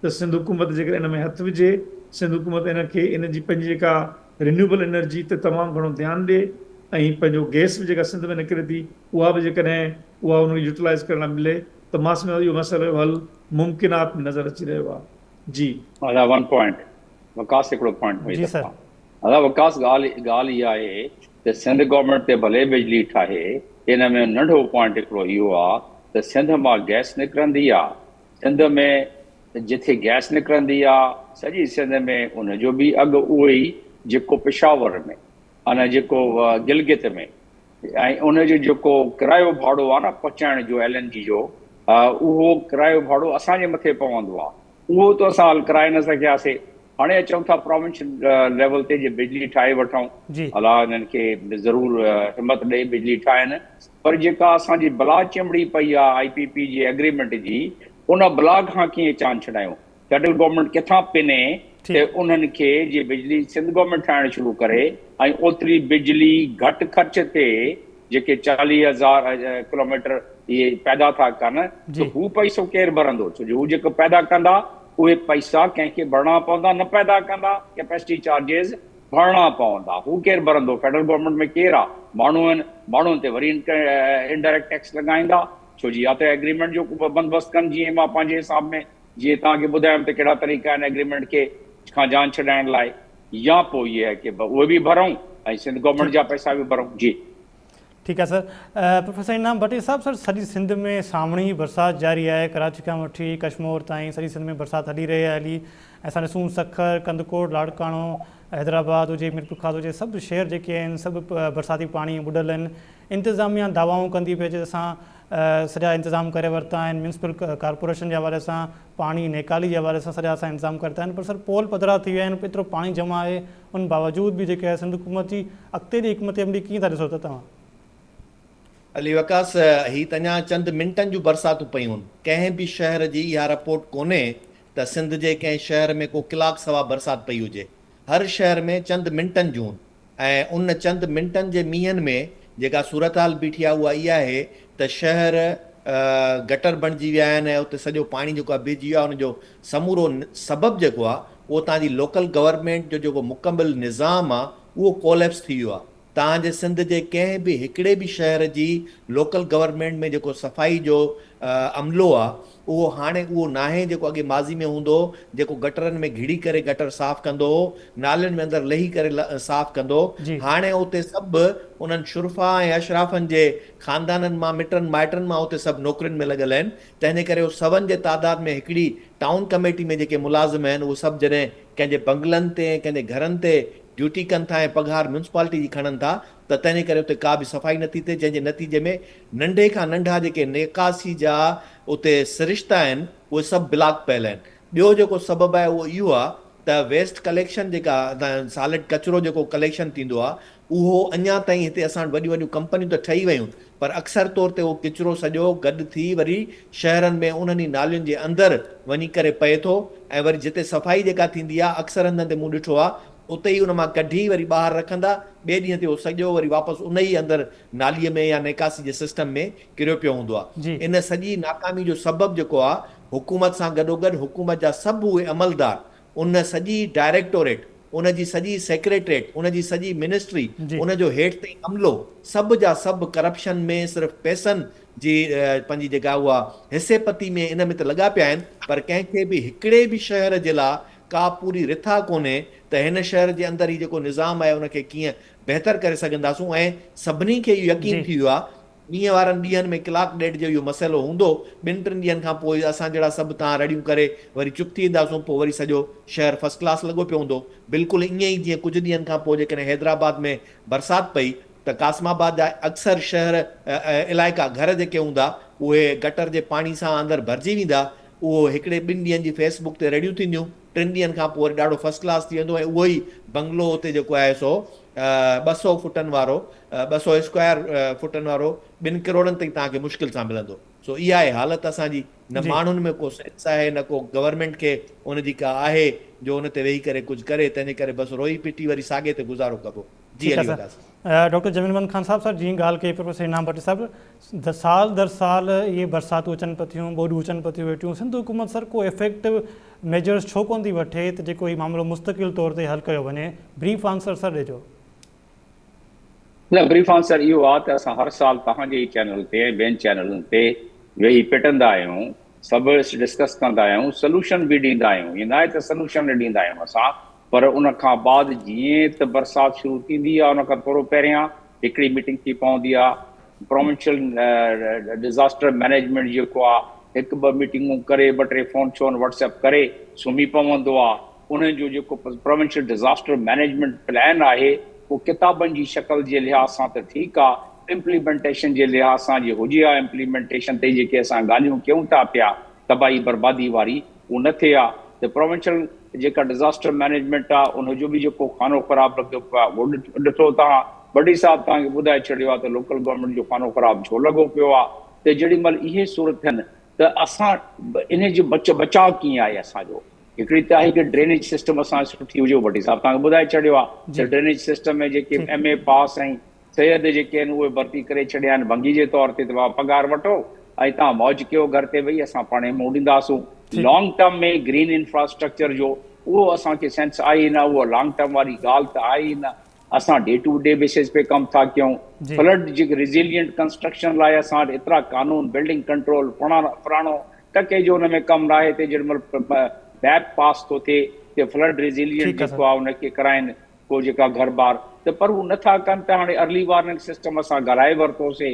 ته سنڌ حڪومت جيڪڏهن ان ۾ هٿ وجهي، سنڌ حڪومت ان کي ان جي پنهنجي جيڪا رينيوبل انرجي تي تمام گهڻو ڌيان ڏي ۽ پنهنجو گئس به جيڪا سنڌ ۾ نڪري ٿي اها به جيڪڏهن اها ان کي يوٽيلائيز ڪرڻ لاء ملي ته مان سمجهان ٿو اهو مسئلي جو حل ممڪنات ۾ نظر اچي رهيو آهي جي. ادا ون پوائنٽ وڪاس هڪڙو پوائنٽ ۾ جي سر. ادا وڪاس ڳالهه ڳالهه اها آهي ته سنڌ گورنمينٽ تي ڀلي بجلي ٺاهي ان ۾ ننڍو پوائنٽ هڪڙو اهو آهي ته سنڌ مان گئس نڪرندي آهي سنڌ ۾ جٿي گئس نڪرندي آ سڄي سنڌ ۾ ان جو به اگهه اهو ئي جيڪو پشاور ۾ آ نه جيڪو گلگت ۾ ۽ ان جو جيڪو ڪرايو ڀاڙو آ نه پهچائڻ جو ايل اين جي جو اهو ڪرايو ڀاڙو اسان جي مٿي پوندو آ اهو ته اسان حل ڪرائي نه سگهياسي هاڻي اچون ٿا پراونشل ليول تي جي بجلي ٺاهي وٺون الله انهن کي ضرور همت ڏئي بجلي ٺاهين. پر جيڪا اسان جي بلا چنبڙي پئي آ آء پي پي جي ايگريمينٽ جي ان بلا کان ڪيئن چان ڇڏايون فيڊرل گورنمينٽ ڪٿان پني تي انهن کي جي بجلي سنڌ گورنمينٽ ٺاهڻ شروع ڪري ۽ اوتري بجلي گهٽ خرچ تي جيڪي چاليهه هزار ڪلوميٽر اهي پيدا ٿا ڪن ته هو پئسو ڪير ڀرندو ڇو جو هو جيڪو پيدا ڪندا اهي پئسا ڪنهن کي ڀرڻا پوندا نه پيدا ڪندا ڪيپيسٽي چارجز ڀرڻا پوندا، هو ڪير ڀرندو، فيڊرل گورنمينٽ ۾ ڪير آ، ماڻهو آهن، ماڻهن تي وري انڊائريڪٽ ٽيڪس لڳائيندا، ڇو جي يا ته ايگريمينٽ جو ڪو بندوبست ڪن جيئن مان پنهنجي حساب ۾ جيئن توهان کي ٻڌايم ته ڪهڙا طريقا آهن ايگريمينٽ کي کان جان ڇڏائڻ لاء يا پوء اهي آهي ڪي اهي به ڀرئون ۽ سنڌ گورنمينٽ جا پئسا به ڀرئون. جي. ٺيڪ آهي سر. پروفيسر انعام ڀٽي صاحب سر سڄي سنڌ ۾ سامهڻي برسات جاري آهي ڪراچي کان وٺي ڪشمور تائين سڄي سنڌ ۾ برسات هلي رهي آهي هلي اسان ڏسون سکر ڪنڌڪوٽ لاڙڪاڻو حيدرآباد هجي ميرپورخاص هجي سڀ شهر جيڪي آهن سڀ برساتي پاڻي ٻڏل آهن انتظاميا دعوائون ڪندي پئي اچي ته اسان سڄا انتظام ڪري ورتا آهن ميونسپل ڪارپوريشن جي حوالي سان پاڻي نيڪالي جي حوالي سان سڄا اسان انتظام ڪرتا آهن پر سر پول پڌرا ٿي ويا آهن ايترو پاڻي جمع آهي ان باوجود به جيڪي سنڌ حڪومت جي اڳتي جي حڪمت عملي ڪيئن ٿا ڏسو ته توهان. علي وقاص، هي ته اڃا چند منٽن جون برساتون پيون، ڪنهن به شهر جي اها رپورٽ ڪونهي ته سنڌ جي ڪنهن شهر ۾ ڪو ڪلاڪ سوا برسات پئي هجي، هر شهر ۾ چند منٽن جون ۽ ان چند منٽن جي مينهن ۾ جيڪا صورتحال بيٺي آهي اها اها آهي ته شهر گٽر بڻجي ويا آهن ۽ اتي سڄو پاڻي جيڪو آهي بيهجي ويو آهي ان جو سمورو سبب جيڪو آ اهو تهان جي لوڪل گورنمينٽ جو جيڪو مڪمل نظام آ اهو ڪوليپس ٿي ويو آ تهان جي سنڌ جي ڪنهن به هڪڙي به شهر جي لوڪل گورنمينٽ ۾ جيڪو صفائي جو عملو آ اهو هاڻي اهو ناهي جيڪو اڳي ماضي ۾ هوندو هو جيڪو گٽرن ۾ گهڙي ڪري گٽر صاف ڪندو هو نالين ۾ اندر لهي ڪري صاف ڪندو جي. هاڻي اتي سڀ انهن شرفا ۽ اشرافن جي خاندانن مان مٽن مائٽن مان اتي سڀ نوڪرين ۾ لڳل آهن. تنهنجي ڪري هو سون جي تعداد ۾ هڪڙي ٽائون ڪميٽي ۾ جيڪي ملازم آهن اهي سڀ جڏهن ڪنهن جي بنگلن تي ۽ ڪنهن جي گهرن تي ڊيوٽي ڪن ٿا ۽ پگهار ميونسپالٽي جي کڻن ٿا ته تنهنجي ڪري اتي ڪا به صفائي نٿي ٿئي جنهن جي نتيجي ۾ ننڍي کان ننڍا جيڪي نڪاسي جا اتي سرشتا آهن اهي سڀ بلاڪ پيل آهن ٻيو جيڪو سبب آهي اهو اهو آهي ته ويسٽ ڪليڪشن جيڪا سالڊ ڪچرو جيڪو ڪليڪشن ٿيندو آهي اهو اڃا تائين هتي اسان وٽ وڏيون وڏيون ڪمپنيون ته ٺهي ويون پر اڪثر طور تي اهو ڪچرو سڄو گڏ ٿي وري شهرن ۾ انهن ئي نالين جي اندر وڃي ڪري پئي ٿو ۽ وري جتي صفائي جيڪا ٿيندي آهي اڪثر هنڌن تي مون ڏٺو آهي اتي ئي ان مان ڪڍي وري ٻاهر رکندا ٻئي ڏينهن تي اهو سڄو وري واپس ان ئي اندر نالي ۾ يا نيڪاسي جي سسٽم ۾ ڪريو پيو هوندو آهي جي. ان سڄي ناڪامي جو سبب جيڪو آهي حڪومت سان گڏوگڏ حڪومت جا سڀ اهي عملدار ان سڄي ڊائريڪٽوريٽ، ان جي سڄي سيڪريٽريٽ، ان جي سڄي منسٽري، ان جو هيٺ تائين عملو سڀ جا سڀ ڪرپشن ۾ صرف پئسن جي پنهنجي جيڪا اها حصي پتي ۾ ان ۾ ته لڳا پيا آهن پر ڪنهن کي به هڪڙي به شهر جي لا ڪا پوري رٿا ڪونهي ته هن شهر جي اندر هي جيڪو نظام آهي ان کي ڪيئن بهتر ڪري سگهنداسون ۽ سڀني کي اهو يقين ٿي ويو آهي ڏينهن وارن ڏينهن ۾ ڪلاڪ ڏيڍ جو اهو مسئلو هوندو، ٻن ٽن ڏينهن کان پوء اسان جهڙا سڀ تان رڙيون ڪري وري چپ ٿي وينداسون، پوء وري سڄو شهر فرسٽ ڪلاس لڳو پيو هوندو، بلڪل ائين ئي جيئن ڪجهه ڏينهن کان پوء جيڪڏهن حيدرآباد ۾ برسات پئي ته قاسم آباد جا اڪثر شهر علائقا گهر جيڪي هوندا اهي گٽر جي پاڻي سان اندر ڀرجي ويندا، اهو هڪڙي ٻن ڏينهن جي فيس بڪ تي رڙيون ٿينديون. ٽن ڏينهن کان پوء وري ڏاڍو فرسٽ ڪلاس ٿي ويندو ۽ اهو ئي بنگلو اتي جيڪو آهي سو ٻه سؤ فٽن وارو، ٻه سؤ اسڪوائر فٽن وارو ٻن ڪروڙن تائين توهان کي مشڪل سان ملندو. سو اها آهي حالت اسان جي، نه ماڻهن ۾ ڪو سينس آهي نه ڪو گورنمينٽ کي ان جي ڪا آهي جو ان تي ويهي ڪري ڪجهه ڪري، تنهن جي ڪري بس روئي پٽي وري ساڳي تي گذارو ڪبو. جي علي وڏا sir. Doctor Jamil Muhammad Khan Sahib sir جيئن ڳالهه ڪئي پروفيسر انعام ڀٽي صاحب د سال در سال اهي برساتون اچن پيون ٿيون ٻوڏون اچن پيون ٿيون ويٺيون سنڌ حڪومت سر ڪو افيڪٽو ميجرس ڇو ڪون ٿي وٺي ته جيڪو هي معاملو مستقل طور تي حل ڪيو وڃي بريف آنسر سر ڏجو. نه بريف آنسر اهو آ ته اسان هر سال توهان جي ئي چينل تي ۽ ٻين چينلن تي ويهي پٽندا آهيون سڀ ڊسڪس ڪندا آهيون سلوشن به ڏيندا آهيون ائين ناهي ته سلوشن نه ڏيندا آهيون اسان پر ان کان بعد جيئن ته برسات شروع ٿيندي آهي ان کان ٿورو پهريان هڪڙي ميٽنگ ٿي پوندي آهي پروونشل ڊزاسٽر مئنيجمينٽ جيڪو آهي هڪ ٻه ميٽنگون ڪري ٻه ٽي فون شون واٽس ايپ ڪري سمهي پوندو آهي انهن جو جيڪو پروونشل ڊزاسٽر مئنيجمينٽ پلان آهي اهو ڪتابن جي شڪل جي لحاظ سان ته ٺيڪ آهي امپليمينٽيشن جي لحاظ سان جي هجي ها امپليمينٽيشن تي جيڪي اسان ڳالهيون ڪيون ٿا پيا تباهي بربادي واري اهو نه ٿئي ها ته پروونشل جيڪا ڊزاسٽر مئنيجمينٽ آ ان جو به جيڪو خانو خراب لڳيو پيو آ اهو ڏٺو توهان بڊي صاحب توهان کي ٻڌائي ڇڏيو آ ته لوڪل گورنمينٽ جو خانو خراب ڇو لڳو پيو آ ته جيڏي مهل اهي سور ٿين ته اسان انهي جو بچ بچاء ڪيئن آهي اسان جو هڪڙي ته آهي ڪي ڊرينيج سسٽم اسان جو سٺي هجي اهو بڊي صاحب توهان کي ٻڌائي ڇڏيو آ ته ڊرينيج سسٽم ۾ جيڪي ايم اي پاس ۽ سيد جي ڪين اهي ڀرتي ڪري ڇڏيا آهن ڀنگي جي طور تي ته بابا پگهار وٺو ۽ تهان موج ڪيو گهر تي ويهي اسان پاڻهي منهن ڏينداسون لانگ ٽرم ۾ گرين انفراسٽرڪچر جو اهو اسان کي سينس آهي ئي نه اها لانگ ٽرم واري ڳالهه ته آهي ئي نه اسان ڊي ٽو ڊي بيسز پي ڪم ٿا ڪيون فلڊ جي ريزيلينٽ ڪنسٽرڪشن لاء اسان وٽ ايترا قانون بلڊنگ ڪنٽرول فلاڻو ٽڪي جو ان ۾ ڪم نه آهي تي جيڏي مهل ميپ پاس ٿو ٿئي ته فلڊ ريزيلينٽ جيڪو آهي ان کي ڪرائين ڪو جيڪا گهر بار ته پر هو نه ٿا ڪن ته هاڻي ارلي وارننگ سسٽم اسان گهرائي ورتوسي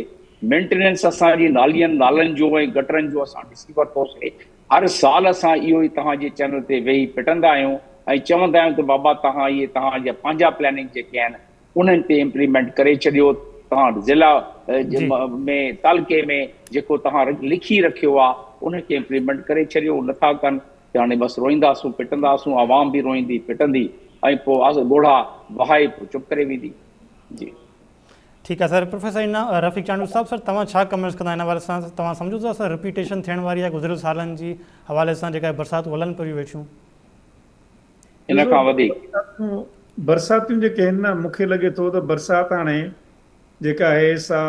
مينٽيننس اسان جي نالين نالن جو ۽ گٽرن جو اسان ڏسي ورتوسي هر سال اسان اهو ئي توهان جي چينل تي ويهي پٽندا آهيون ۽ چوندا آهيون ته بابا توهان اهي توهان جا پنهنجا پلاننگ جيڪي آهن انهن تي امپليمينٽ ڪري ڇڏيو توهان ضلع ۾ تعلقي ۾ جيڪو توهان لکي رکيو آهي ان کي امپليمينٽ ڪري ڇڏيو هو نه ٿا ڪن ته هاڻي بس روئينداسون پٽنداسون عوام به روئيندي پٽندي ۽ پوء ڳوڙها وهائي پوء چپ ڪري ويندي جي. ٺيڪ آهي سر پروفيسر انا رفيق چانڊيو صاحب سر توهان ڇا ڪمينٽس ڪندا ان حوالي سان توهان سمجهو ٿا سر رپيٽيشن ٿيڻ واري آهي گذريل سالن جي حوالي سان جيڪا برساتون هلن پيون ويٺيون ان کان وڌيڪ برساتون جيڪي آهن نه مون کي لڳي ٿو ته برسات هاڻي جيڪا آهي سا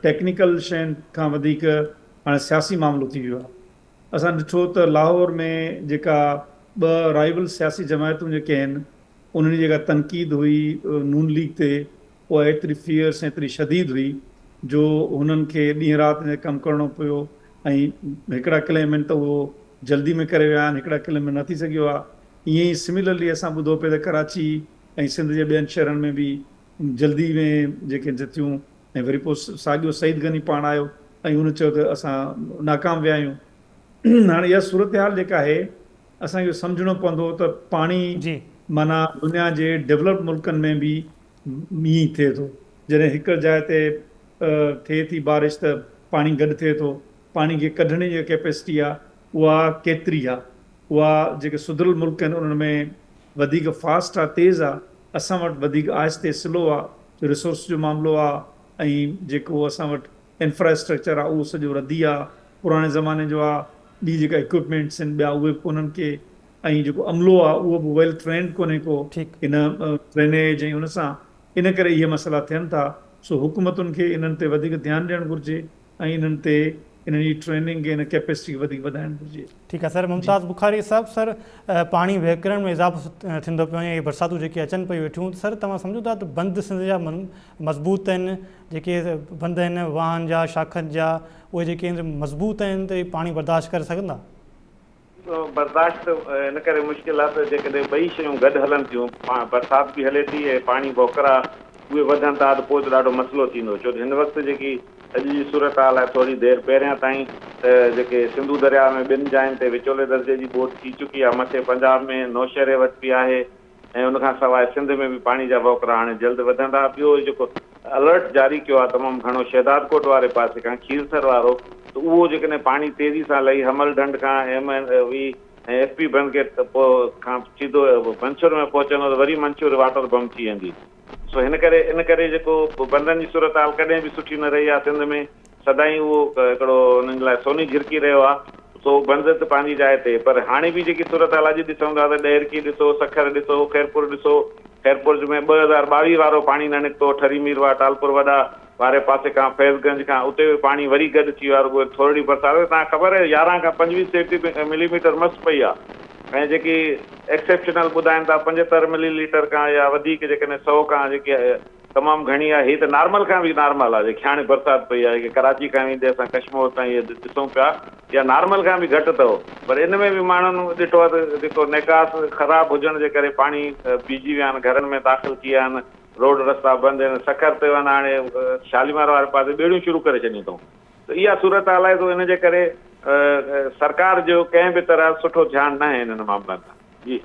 ٽيڪنيڪل شين کان وڌيڪ هاڻي سياسي معاملو ٿي ويو آهي اسان ڏٺو ته لاهور ۾ جيڪا ٻه رائيول سياسي جماعتون جيڪي آهن انهن جي جيڪا تنقيد هئي نون ليگ تي اها ايتري فيئرس ۽ ايتري شديد هئي جو هنن کي ڏينهن رات ان تي ڪم ڪرڻو پيو ۽ هڪڙا ڪليمنٽ ته اهو جلدي ۾ ڪري ويا آهن هڪڙا ڪليمنٽ نه ٿي سگهيو آهي ائين ئي سميلرلي اسان ٻڌو پئي ته ڪراچي ۽ سنڌ جي ٻين شهرن ۾ به جلدي ۾ جيڪي جٿيون ۽ وري پوء ساڳيو سعيد غني پاڻ آيو ۽ هن چيو ته اسان ناڪام ويا آهيون. هاڻي اها صورتحال جيڪا آهي اسان کي اهو سمجهڻو پوندو ته پاڻي جي. معنيٰ دنيا جي ڊولپڊ ملڪن ۾ به ائين ئي ٿئي ٿو. جڏهن هڪڙ جاء تي ٿئي ٿي بارش ته پاڻي گڏ ٿئي ٿو. پاڻي کي ڪڍڻ جي جيڪا ڪيپيسٽي آهي اها ڪيتري آهي. اها جيڪي سڌريل ملڪ آهن انهن ۾ وڌيڪ فاسٽ آهي، تيز آهي اسان وٽ وڌيڪ آهستي سلو آ جو ريسورس جو معاملو آ ۽ جيڪو اسان وٽ انفراسٽرڪچر آ اهو سڄو ردي آ پراڻي زماني جو آ ٻي جيڪا اڪوپمينٽس ان ٻيا اهي به ڪونهن ڪي ۽ جيڪو عملو آ اهو به ويل ٽرينڊ ڪونهي ڪو ٺيڪ. ان ڊرينيج ۽ ان سان ان ڪري اهي مسئلا ٿين ٿا سو حڪومتن کي انهن تي وڌيڪ ڌيان ڏيڻ گهرجي ۽ انهن تي انهن جي ٽريننگ ۽ ان ڪيپيسٽي کي وڌيڪ وڌائڻ گهرجي. ٺيڪ آهي سر ممتاز بخاري صاحب سر پاڻي وهڪرڻ ۾ اضافو ٿيندو پيو وڃي هي برساتون جيڪي اچن پيون ويٺيون ته سر توهان سمجهو ٿا ته بند سنڌ جا مضبوط آهن جيڪي بند آهن واهن جا شاخن جا اهي جيڪي مضبوط آهن ته هي پاڻي برداشت ڪري سگهندا؟ برداشت ان ڪري مشڪل آهي ته جيڪڏهن ٻئي شيون گڏ هلن ٿيون، برسات به هلي ٿي ۽ پاڻي ڀوڪرا اهي وڌن ٿا ته پوء ته ڏاڍو مسئلو ٿيندو ڇو ته هن وقت جيڪي اڄ جي صورتحال آهي ٿوري دير پهريان تائين ته جيڪي سنڌو درياء ۾ ٻن جاين تي وچولي درجي جي ٻوڏ ٿي چڪي آهي مٿي پنجاب ۾ نوشهري وٽ به آهي ۽ ان کان سواء سنڌ ۾ به پاڻي جا وهڪرا هاڻي جلد وڌندا. ٻيو هي جيڪو الرٽ جاري ڪيو آهي تمام گهڻو شهدادڪوٽ واري پاسي کان کيرٿر وارو ته اهو جيڪڏهن پاڻي تيزي سان لهي حمل ڍنڍ کان M N V ۽ F P بند گيٽ کان سيڌو منڇور ۾ پهچندو ته وري منڇور واٽر بم ٿي ويندي سو هن ڪري ان ڪري جيڪو بندن جي صورتحال ڪڏهن به سٺي نه رهي آهي سنڌ ۾ سدائين اهو هڪڙو انهن لاء سوني جهرڪي رهيو آهي، سو بنظرت پنهنجي جاء تي، پر هاڻي به جيڪي صورتحال اڄ ڏسون ٿا ته ڏهرڪي ڏسو، سکر ڏسو، خيرپور ڏسو، خيرپورج ۾ ٻه هزار ٻاويهه وارو پاڻي نه نڪتو، ٺري ميرواهه ٽالپور وڏا واري پاسي کان فيض گنج کان اتي به پاڻي وري گڏ ٿي ويو آهي، رڳو ٿورڙي برسات تهان کي خبر آهي يارهن کان پنجويهه سيٽي ملي ميٽر مس پئي آهي ۽ جيڪي ايڪسيپشنل ٻڌائين ٿا پنجهتر ملي ليٽر کان يا وڌيڪ جيڪڏهن سئو کان جيڪي تمام گهڻي آهي، هي ته نارمل کان به نارمل آهي جيڪي هاڻي برسات پئي آهي جيڪي ڪراچي کان ويندي اسان ڪشمور تائين اهي ڏسون پيا اها نارمل کان به گهٽ اٿو پر ان ۾ به ماڻهن ڏٺو آهي ته جيڪو نيڪاس خراب هجڻ جي ڪري پاڻي بيهجي ويا آهن گهرن ۾ داخل ٿي ويا آهن روڊ رستا بند آهن سکر تي وڃ هاڻي شاليمار واري پاسي ٻيڙيون شروع ڪري ڇڏيون اٿئون ته اها صورتحال آهي سو ان جي ڪري سرڪار جو ڪنهن به طرح سٺو ڌيان ناهي انهن معاملن ۾ جي.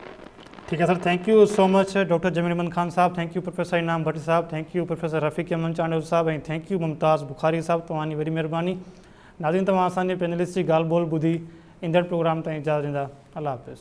ٺيڪ آهي sir thank you so much doctor Jamil Ahmed Khan sahib thank you professor Inam Butt sahib thank you professor Rafiq Ahmed Chandio sahib ۽ thank you Mumtaz Bukhari صاحب توهان جي وڏي مهرباني ناظرين توهان اسان جي پينلسٽ جي ڳالهه ٻولهه ٻڌي ايندڙ پروگرام تائين اجازت ڏيندا الله حافظ.